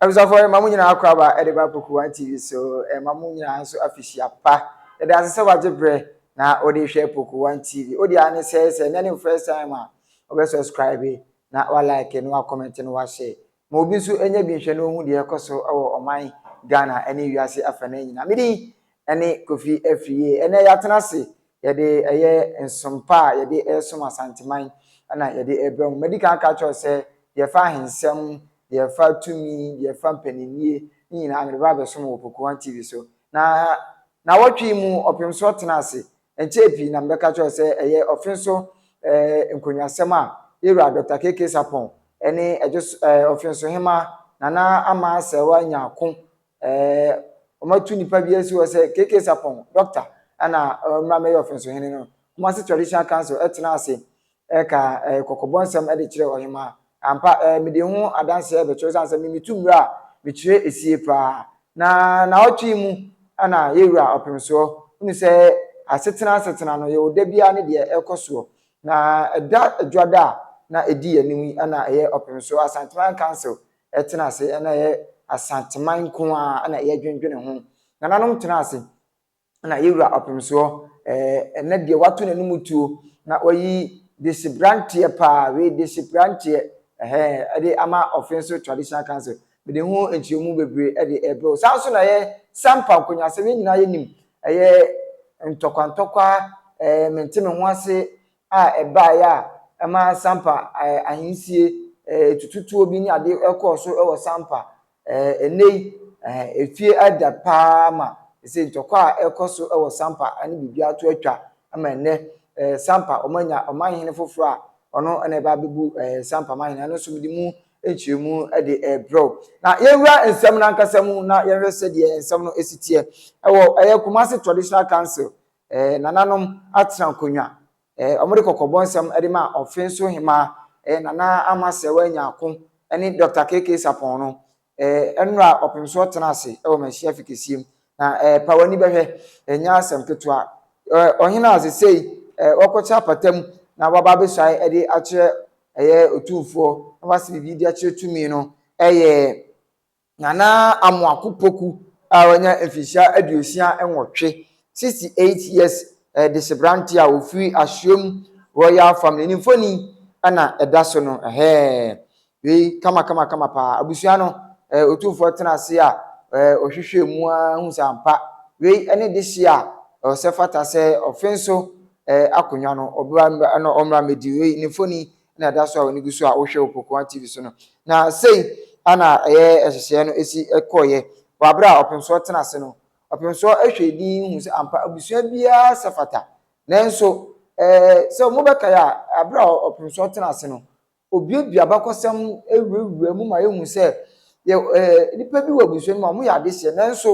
abusuafoɔ ɛma mo nyinaa akɔ aba ɛde ba poku one tv so ɛma mo nyinaa nso afihyia pa ɛde ase sɛ wagye berɛ na ɔde hwɛ poku one tv ɔde ane sɛ sɛ ɛnyɛ ne first time a ɔbɛ subscribe na wa like na wa comment na wa share Ma obi nso nya bi nhwɛ na ɔnhu deɛ ɛrekɔ so wɔ ɔman Ghana ne wiase afanan nyinaa. Me din ne Kofi Afriyie. Ɛnnɛ yɛatena ase, yɛde ɛyɛ nsom pa a yɛde resom Asanteman na yɛde rebrɛ mo. Madi kan aka akyerɛ wo sɛ deɛ ɛfa ahensɛm, deɛ ɛfa tumi, deɛ ɛfa mpaninnie ne nyinaa mede ba abɛsom wɔ Pokuwa TV so. Na nnawɔtwe yi mu ɔpemsoɔ tena ase Ɛnkyɛɛ pii na mebɛka kyerɛɛ wo sɛ ɛyɛ ɔfenso eh, nkonnwasɛm a Yɛwura Dɔkta KK Sarpong ne Ɛdwos eh, Ɔfensohemmaa Nana Ama Aserewa nya ko eh, wɔatu nnipa bi asi hɔ sɛ KK Sarpong, Dɔkta, ɛna eh, mmra mmɛyɛ Ɔfensohene no. Kumasi Traditional Council ɛtenaa ase Ɛka kɔkɔbɔ nsɛm de kyerɛ ɔhemaa. Ampa, mede ho adanse rebɛkyerɛ wo, esiane sɛ me metu mmara a mekyerɛ sie paa. Na naawɔtwe yi mu na yɛwura ɔpem soɔ. Hunu sɛ asetena asetena no, yɛwɔ da biara ne deɛ ɛrekɔ soɔ. Na ɛda Dwoada a na ɛdi yɛn anim yi na ɛyɛ ɔpem soɔ. Asanteman Council tena ase, na ɛyɛ Asanteman nko ara na yɛdwendwene ho. Nananom tena ase, na yɛwura ɔpemsoɔ ɛɛ ɛnɛ deɛ wato n'anim tuo na wayi desibranteɛ paa wei desibranteɛ ɛhɛn ɛde ama ɔfenso traditional council mede ho nkyerɛmu bebree ɛde ɛbrɛ o saa nso na ɛyɛ sampa nkonyasɛm yɛn nyinaa yɛnim ɛyɛ ntɔkwantɔkwa ɛɛ mente me ho ase a ɛbaeɛ a ɛma sampa ɛɛ ahensie ɛɛ tututuo bi ne adeɛ ɛkɔɔ so ɛwɔ sampa Ɛɛ, nnɛ yi, ɛɛ, efie ada paa ma ɛsɛ ntɔkwa a ɛkɔ so wɔ Sampa ne biribiara to atwa ma ɛnnɛ ɛɛ, Sampa wɔanya ɔmanhene foforɔ a ɔno na ɛba abɛbu ɛɛ, Sampa manhene. Ɛno nso mede mu nkyerɛmu de rebrɛ wo. Na yɛnwura nsɛm no ankasa mu na yɛnhwɛ sɛdeɛ nsɛm no si teɛ. Ɛwɔ ɛyɛ Kumasi Traditional Council, ɛɛ, nananom atena nkonnwa Eh, wɔde kɔkɔbɔ nsɛm de ma Ɔfe so Hemaa eh, Nana Ama Sɛwɛ Nyarko ne Dɔkta KK Sapɔn no. Eh, nnora ɔpemsoɔ tena ase wɔ Mahyia Fi kɛseɛ mu. Na eh, pa w'ani bɛhwɛ, ɛnyɛ asɛm ketewa. Eh, ɔhene a sesei eh, wɔkɔkyɛ apata mu na waba abɛsuae de akyerɛ ɛyɛ otumfoɔ na wase biribi de akyerɛ tumi no yɛ Nana Amoako Poku a wanya mfirihyia aduosia nwɔtwe, 68 years, de seberanteɛ a ɔfiri Asuom Royal Family ne mfoni na ɛda so no, ɛhɛɛ, wei kama kama kama paa, abusua no Otumfoɔ tena ase a ɔhwehwɛɛ mu ara hu sɛ ampa wei ne dehyeɛ a ɛwɔ sɛ fata sɛ ɔfe nso akonnwa no ɔbra na ɔmmra mmɛdi wei ne mfoni na ɛda so a w'ani gu so a wohwɛ wɔ Pokuwa TV so no. Na sei ana ɛyɛ ɛhyehyɛɛ no ɛsi ɛkɔɔyɛ wɔ aberɛ a ɔpemsoɔ tena ase no. Ɔpemsoɔ ɛhwɛɛ din hu sɛ ampa abusua biara sɛ fata. Nanso ɛɛ sɛ mo bɛkae a aberɛ a ɔpemsoɔ tena ase no ɔbuebue abakɔsɛm ɛwurawura mu ma yɛhu sɛ yɛ ɛɛ nnipa bi wɔ abusua no mu a wɔyɛ adehyeɛ nanso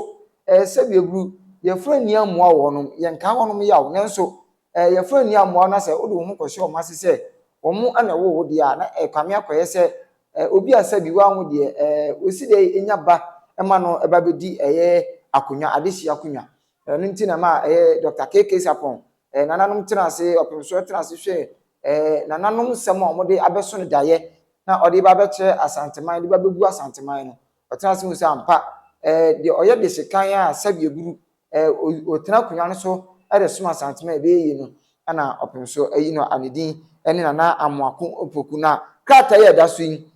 ɛɛ sɛdeɛ ɛburu yɛfra nni ammoa wɔnom yɛnkaa wɔnom yaw nanso Ɛɛ yɛmfa nni amoaw na sɛ wode wo ho kɔhyɛ wɔn ase sɛ wɔn na ɛwoo wo deɛ a, na ɛrekame akɔyɛ sɛ ɛɛ obi a sɛbi wanwo deɛ ɛɛ wɔsi dɛ nya ba ma no ba bɛdi ɛyɛ akonnwa, adehyeɛ akonnwa. Ɛno nti na ɛma ɛyɛ Dɔkta KK Sarpong, ɛɛ nananom tena ase, ɔpemsoɔ tena ase hwɛɛ ɛɛ nananom nsɛm a wɔde abɛso no daeɛ na ɔde ba abɛkyerɛ Asanteman, de ba abɛgu Asanteman no. Ɔtena ase hu sɛ ampa ɛɛ deɛ ɔyɛ dehyekan a sɛbi aburu ɔtena akonnwa no so de som Asantehene a ɛbɛyɛ yie no na ɔpem so ayi no a ne din ne Nana Amoako Opoku. Na krataa yi a ɛda so yi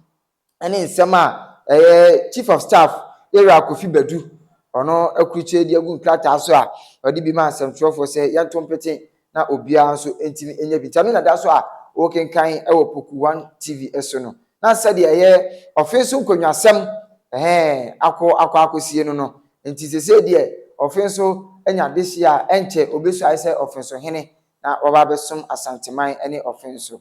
ne nsɛm a ɛyɛ Chief of Staff Ira Kofi Badu ɔno akurukyire de agu nkrataa so a ɔde bi maa nsɛmtwerɛfoɔ sɛ yɛnto mpete na obiara nso ntumi nyɛ bi. Nti ɛno na da so a wokenkan wɔ Poku One TV so no, na sɛdeɛ ɛyɛ ɔfe so nkonnwasɛm, ɛhɛɛ, akɔ akɔ akɔsie no no. Nti sesei deɛ ɔfe so anya adehyeɛ a, ɛnkyɛ ɔbɛsuae sɛ ɔfe so hene na waba abɛsom Asanteman ne ɔfe so.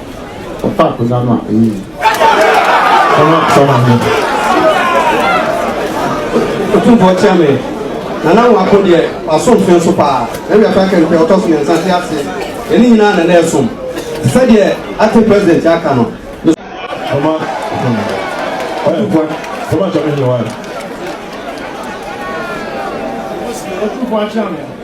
Ɔfa akonnwa no a, ɛyɛ yi. Ɔma sɛ ɔma no. Otumfoɔ kyia me. Nana Nwako deɛ, waso mfe nso paa. Ɛwia koraa kɛ mpɛ ɔtɔ so mmiɛnsa te ase. Yɛne nyinaa na na ɛsom. Te sɛ deɛ acting president aka no. Ɔma sɛ ɔma no. Otumfoɔ. Ɔma sɛ ɔma no. Otumfoɔ akyia me.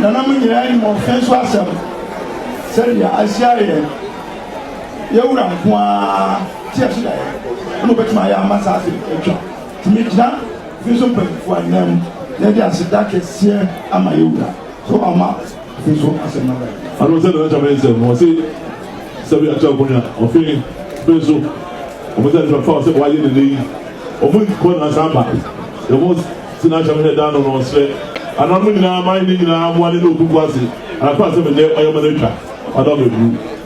Nananom nyinaa nim ɔfɛ nso asɛm, sɛdeɛ ahyia yɛn, yɛn wura nko ara te ɛso da yɛn, ɛna ɔbɛtumi ayɛ ama saa afe atwa. Tumi gyina fi nso mpanyinfoɔ ananmu, na yɛde aseda kɛseɛ ama yɛn wura sɛ wama Afei so asɛm no aba yi. Ano sɛ nana kyame nsɛm no ɔse sɛ bi akyɛ ɔkonya ɔfe fe so ɔmo sɛ nfa fa ɔsɛ wayɛ nene yi ɔmo nkɔ na san ba ɔmo se na akyame hɛ dan no no ɔsrɛ ana mo nyinaa man ne nyinaa mo ane ne obi bu ase ana kɔ asɛm nyɛ ɔyɛ ma no atwa ɔdɔ bɛ buru.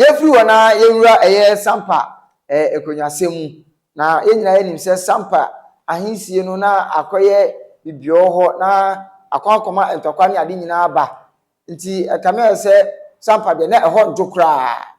Yɛfiri hɔ na yɛwura ɛyɛ Sampa eh, ɛkɔnyasɛm mu. Na yɛn nyinaa yɛnim sɛ Sampa ahensie no na akɔyɛ bibiɔ hɔ na akɔ akɔma ntɔkwa ne ade nyinaa aba. Nti ɛkame ayɛ sɛ Sampa deɛ na ɛhɔ nto koraa.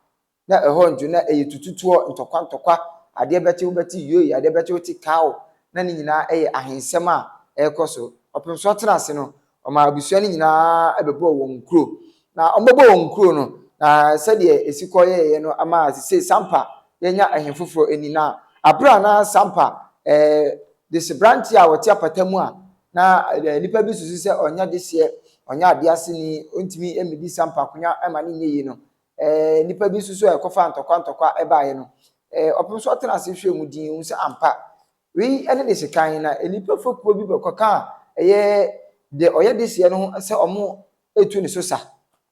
Na ɛhɔ nso na ɛyɛ tututuɔ, ntɔkwa ntɔkwa, adeɛ bɛkye wobɛte yoi, adeɛ bɛkye wote kao, na ne nyinaa ɛyɛ ahensɛm a ɛrekɔ so. Ɔpem so ɔtena ase no, ɔmaa abusua no nyinaa bɛbɔɔ wɔn nkuro. Na wɔbɛbɔ wɔn nkuro no, na sɛdeɛ ɛsi kɔ yɛɛyɛ no ama sesei Sampa yɛanya ɛhene foforɔ ani. Na aberɛ a na Sampa ɛɛ deseberanteɛ a ɔte apata mu a na ɛɛ nnipa bi susu sɛ ɔnyɛ deseɛ, ɔnyɛ adease ni, ɔntumi mmɛdi Sampa akonnwa mma no nyɛ yie no, Ɛɛ, nnipa bi nso so a ɛkɔfaa ntɔkwa ntɔkwa baeɛ no, ɛɛ, ɔpem so ɔtena ase hwɛɛ mu dinn, hu sɛ ampa, wei ne de sekan, na nnipa fekuo bi bɛkɔkaa ɛyɛ deɛ ɔyɛ deseɛ no ho sɛ wɔretu ne so sa.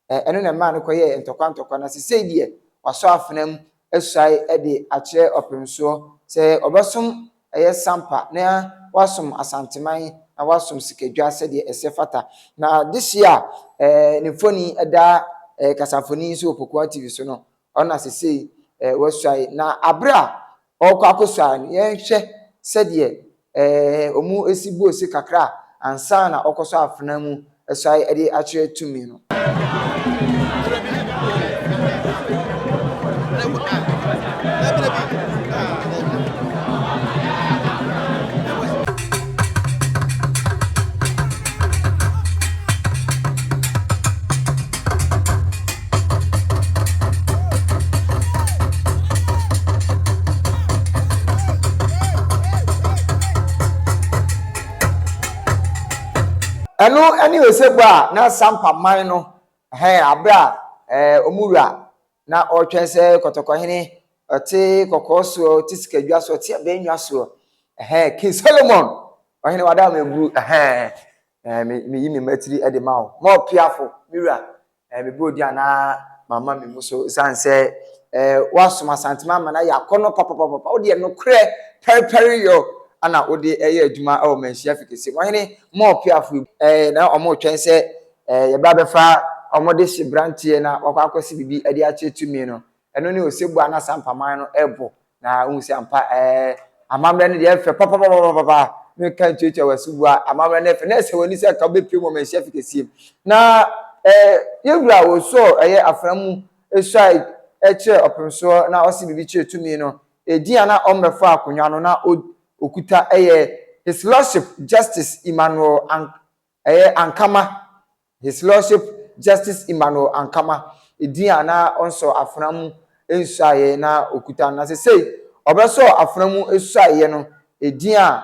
Ɛɛ, ɛno na ɛmaa no kɔyɛɛ ntɔkwa ntɔkwa, na sesei deɛ, wasɔ afena mu asuae de akyerɛ ɔpem soɔ sɛ ɔbɛsom ɛyɛ sampa na wasom Asanteman na wasom Sikadwa sɛdeɛ ɛsɛ fata. Na this year eh, ne mfoni da eh, kasamfoni yi so wɔ Pokuwa TV so no, ɔna sesei eh, wasuae. Na abere a ɔrekɔ akɔsuae no, yɛnhwɛ sɛdeɛ eh, ɔmu esi buo se kakra ansa na ɔkɔsɔ afena mu ɛsae de akyerɛ tumi no. Ɛno ne osebɔ a na Sampa man no hɛn aber a wɔn wura na ɔretwɛn sɛ kɔtɔkɔhene ɔte kɔkɔɔ soɔ, ɔte sikadwa soɔ, ɔte abɛnnwa soɔ. Ɛhɛn, King Solomon, ɔhene wada ama ɛburu, ɛhɛn, ɛhɛn, me, meyi me mmatiri de ma wo. Mɔ piafo, me wura, Ɛyɛ me bro di a na mama me mu so ɛsiane sɛ eh, woasom Asantema ama no ayɛ akɔnnɔ papapapapa. Wodeɛ nokorɛ pɛrepɛre yɔ ana wode ɛyɛ adwuma wɔ manhyia fi kɛseɛ mu. Ɔhene Moore Piafo yi eh, na wɔretwɛn sɛ eh, yɛba bɛfa wɔde hye branteɛ na wakɔ akɔsi biribi de akyerɛ tumi no. Ɛno ne osebɔ a na saa mpaman no rebɔ, na wohu sɛ ampa ɛɛ amammerɛ no deɛ ɛfɛ papapapapapa meka ntuatua w'asubua amammerɛ no ɛfɛ na ɛsɛ w'ani sɛ ka wobɛpie mu ɔmanhyia fi kɛseɛ na ɛɛ yɛwura a wɔsɔɔ ɛyɛ afra mu ɛsuae ɛkyerɛ ɔpemsoɔ na ɔse biribi kyerɛ tumi no ɛdin a na ɔmmɛfa akonnwa no na ɔkuta ɛyɛ his lordship justice Emmanuel Ank Ɛyɛ Ankama, His Lordship Justice Emmanuel Ankama, edin a na ɔnsɔɔ afena mu nsuaeɛ na ɔkuta no, na sesei ɔbɛsɔɔ afena mu suaeɛ no, edin a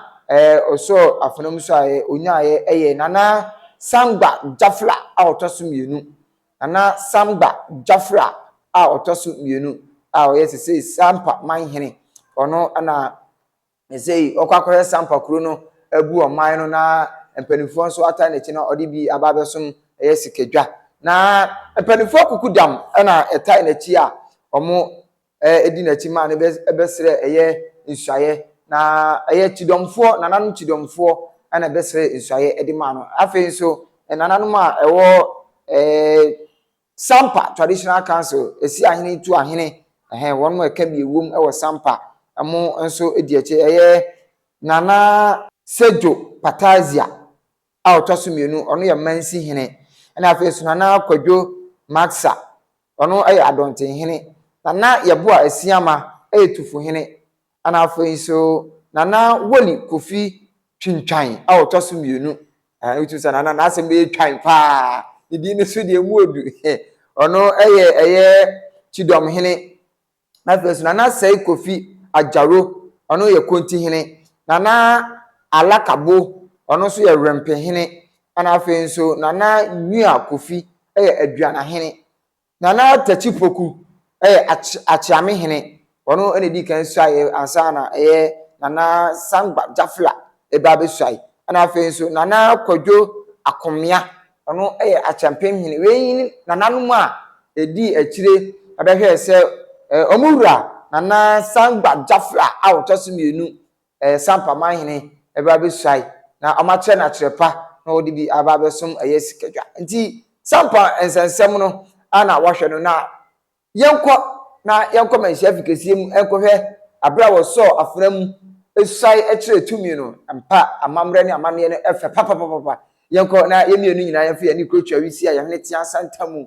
ɔsɔɔ afena mu suaeɛ ɔnyaaeɛ yɛ Nana Sangba Jafla a ɔtɔ so mmienu, Nana Sangba Jafla a ɔtɔ so mmienu a ɔyɛ sesei Sampa Manhene, ɔno na Na sei ɔkɔ akɔhwɛ sampa kuro no abu ɔman no na mpanimfoɔ nso ata n'akyi na ɔde bi aba abɛsom ɛyɛ sika dwa na mpanimfoɔ akuku dam na ɛtae n'akyi a wɔn ɛdi n'akyi ma no bɛsrɛ ɛyɛ nsuayɛ na ɛyɛ kyidɔmfoɔ nananom kyidɔmfoɔ na ɛbɛsrɛ nsuayɛ ɛde ma no afei nso nananom a ɛwɔ ɛɛ Sampa Traditional Council si ahene tu ahene ɛhɛn wɔn a ɛka mmienu wom wɔ Sampa mo nso di akyire ɛyɛ Nana Sedjo Patazia a ɔtɔ so mmienu ɔno yɛ Mansi hene ɛna afei nso Nana Kwadwo Maxah ɔno yɛ Adɔnten hene Nana Yeboah Asiamah yɛ Tufu hene Ɛna afei nso Nana Woli Kofi Twintwan a ɔtɔ so mmienu. Ɛɛ wotumi sɛ Nana n'asɛm bɛyɛ twan paa. Ne din no so deɛ mu odu. Ɔno yɛ ɛyɛ Kyidɔm hene. Na afei nso Nana Sɛe Kofi Agyaro, ɔno yɛ Konti hene. Nana Alakabo, ɔno nso yɛ Wrempe hene. Ɛna afei nso Nana Nua Kofi yɛ Aduana hene. Nana Takyi Poku yɛ Akyeame hene, ɔno na ɛdii kan suaeɛ ansa na ɛyɛ Nana Sangba Jafla ɛba bɛsuae. Ɛna afei nso Nana Kwadwo Akomea, ɔno yɛ Akyeampem hene. Wei yi ne nananom a ɛdii akyire bɛhwɛɛ sɛ wɔn wura Nana Sangba Jafla a ɔtɔ so mmienu Ɛyɛ sa ampa, man hene bɛba abɛsuae, na wɔakyerɛ no akyerɛ pa, na wɔde bi aba abɛsom ɛyɛ sikadwa. Nti, sa ampa nsɛnsɛm no ara na wɔahwɛ no, na yɛnkɔ na yɛnkɔ manhyia fi kɛseɛ mu nkɔhwɛ aberɛ a wɔsɔɔ afena mu suae kyerɛɛ tumi no ampa, amammerɛ ne amanneɛ no fɛ papapapapa. Yɛnkɔ na yɛn mmienu nyinaa yɛmfa yɛn ani kuro Twawi Sia, yɛn hene teaa Santa mu,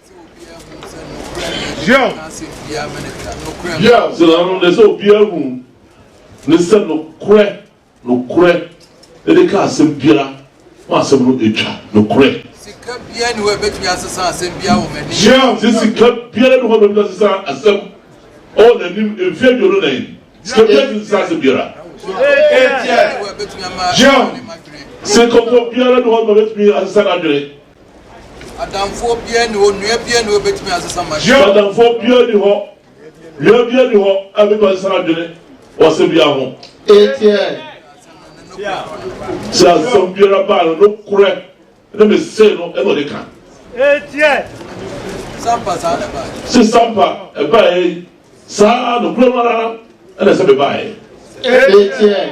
Yo! Yo! So na no de sɛ obiara hu ne sɛ nokorɛ, nokorɛ de ka asɛm biara ma asɛm no atwa, nokorɛ. Sika biara ni hɔ a ebetumi asesa asɛm biara wɔ m'anim. Yo! Sɛ sika biara ni hɔ a ebetumi asesa asɛm wɔ n'anim mfe aduonu nan. Sika biara ntumi nsesa asɛm biara. Yo! Sɛ kɔkɔ biara ni hɔ a ebetumi asesa n'adwene. Adamfoɔ biara nni hɔ, nua biara nni hɔ a obetumi asesa m'adwene. Sɛ adamfoɔ biara nni hɔ, nua biara nni hɔ a obetumi asesa n'adwene wɔ asɛm biara ho. Atn. Sɛ asɛm biara ba a, no nokorɛ ne me se no na ɔde ka. Atn. Sɛ ampa saa na ɛbaeɛ. Se sɛ ampa ɛbaeɛ saa nokorɛ no ara na ɛsɛ me baeɛ. Atn.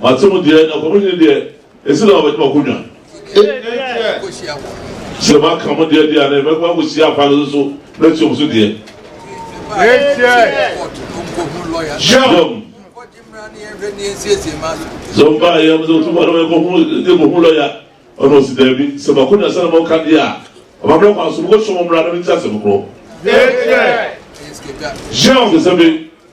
Mate mo deɛ, na Ɔkwamuni no deɛ, esi na ɔbɛgye mo akonnwa. Sɛ maka mo deɛ deɛ a, na mɛkɔ akɔhyia afã no nso matua wɔn so deɛ. Yom. Sɛ ɔbaa yɛ mo sɛ otu ma no yɛ kɔhu yɛ kɔhu lɔya ɔno ɔsi daabi sɛ mako na sɛ na mo ka deɛ a ɔba mmerɛ kwan so mo kɔ hyɛ mo mmara na mo ti asɛm korɔ. Yom. Sɛ sɛ bi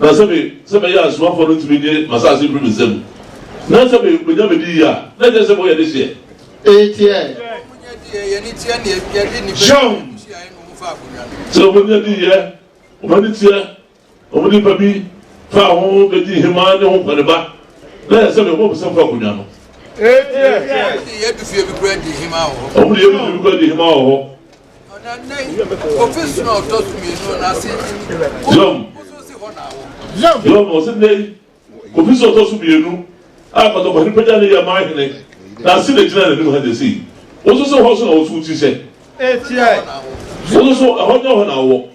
Na sɛ me, sɛ mɛyɛ asomafoɔ no tumi gye m'asase firi me nsam, na sɛ me, menya me di yie a, na ɛkyerɛ sɛ moyɛ dehyeɛ. Etiɛ. John. Sɛ wɔn ani adi yɛ, wɔn ani teɛ, wɔn nipa bi faa ho bɛdi hemaa ne ho nkwaneba, na yɛ sɛ me, wɔn bisa fa akonnwa no. Etiɛ. Wɔn de yɛ bi fie bi kura di hemaa wɔ hɔ. Yom ɔsi nnɛ yi kofi so ɔtɔ so mmienu a pɔtɔpɔtɔ pagya ne yɛ maa hene na ase na gyina n'anim ha na esi wososo hɔ so na woso ti sɛ wososo ɛhɔ nyɛ hɔ na awɔ.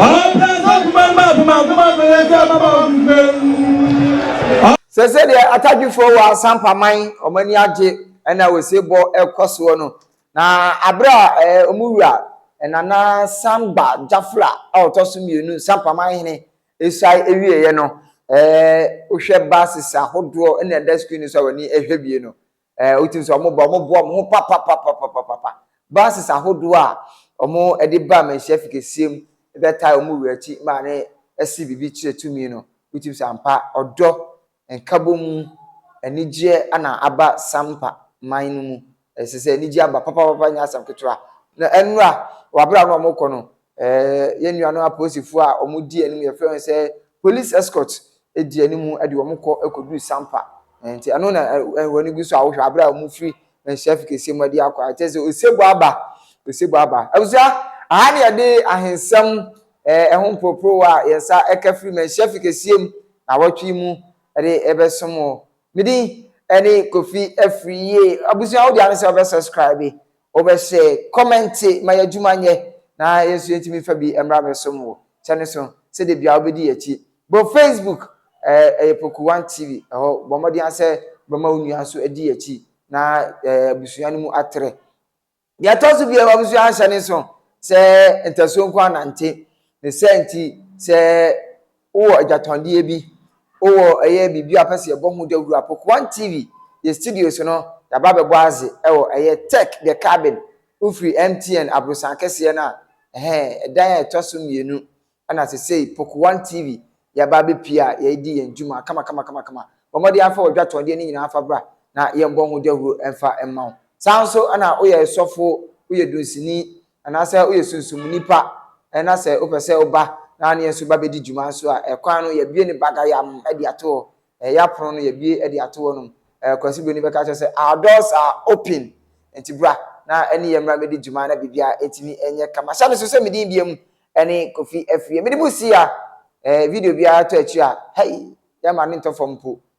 Ɔprɛnsa kumaa maa kumaa kumaa mmerɛ sɛ mmabaawa kukuo. Sɛ sɛdeɛ atadwifoɔ wɔ asampaman wɔn ani agye na osebɔ rekɔ soɔ no, na aberɛ a wɔn wura Nana Samba Jafla a ɔtɔ so mmienu sampaman hene resae wieeɛ no, wohwɛ buses ahodoɔ na ɛda screen no so a w'ani hwɛ bie no, Ɛɛ, wotumi sɛ wɔn ba, wɔn boa wɔn ho papapapapapa. Buses ahodoɔ a wɔn de ba amanhyia fi kɛseɛ mu bɛtaa wɔn wura akyi ma ne ɛsi biribi kyerɛ tumi no, wotumi sɛ ampa ɔdɔ, nkabɔmu, anigyeɛ ana aba Sampa man no mu. Ɛsɛ sɛ anigyeɛ aba papapapa nyɛ asɛm ketewa. Na ɛnora, wɔ abere a na wɔn kɔ no, Ɛɛ yɛn nuanom apolisifo a wɔdi anim yɛfrɛ wɔn sɛ police escort di anim de wɔn kɔ kɔduru sampa nti ɛno na wɔn ani gu so a wohwɛ abere a wɔn firi nhyɛfi kɛseɛ mu adi akɔ a kyerɛ sɛ osebo aba osebo aba abusua aha ne yɛde ahensɛm ɛɛ ɛho mporoporowa a yɛn nsa ɛka firi mu nhyɛfi kɛseɛ mu na awɔtwe mu ɛde ɛbɛsom wɔ medin ɛne kofi afiri yie abusua wode ano sɛ ɔbɛ subscribe Wobɛhyɛ kɔmɛnte ma y'adwuma nyɛ na yɛn nso yɛntumi mfa bi mmra mmɛsom wo. Hyɛ no so sɛ da biara wobɛdi yɛn akyi. Bɔ Facebook, ɛyɛ Poku One TV, ɛhɔ. Bɔ mmɔden ara sɛ wobɛma wo nua nso adi yɛn akyi na abusua no mu atrɛ. Deɛ ɛtɔ so biara, wobɛso ahyɛ no nso sɛ ntasuo nko ara nante. Ne saa nti, sɛ Wowɔ agyatɔndeɛ bi, wowɔ ɛyɛ biribi a wopɛ sɛ yɛbɔ ho dawuro a, Pokuan TV, yɛn studios no, yɛaba abɛbɔ adze wɔ ɛyɛ Tech the Cabin, wofiri MTN aborosan kɛseɛ no a, ɛhɛn, ɛdan a ɛtɔ so mmienu, ɛna sesei Pokuan TV, yɛaba abɛpie a yɛredi yɛn dwuma kamakama-kamakama. Bɔ mmɔden ara fa w'agyatɔndeɛ no nyinaa fa bra na yɛmbɔ ho dawuro mfa mma wo. Saa ara nso na woyɛ sɔfo, woyɛ dunsini, Anaasɛ woyɛ sunsum nipa na sɛ wopɛ sɛ woba na ne yɛn nso ba bɛdi dwuma nso a, ɛkwan no yɛbue no bagayam de ato hɔ. Ɛyɛ apono no yɛbue de ato hɔnom. Kwasi Broni bɛka akyerɛ sɛ our doors are open nti bra na ɛne yɛn mmra mmɛdi dwuma na biribiara ɛtumi ɛnyɛ kama. Hyɛ no so sɛ me din biam ɛne Kofi Afriyie. Mede mo si a video biara tɔ akyiri a hei yɛmma no ntɔ fam mpo.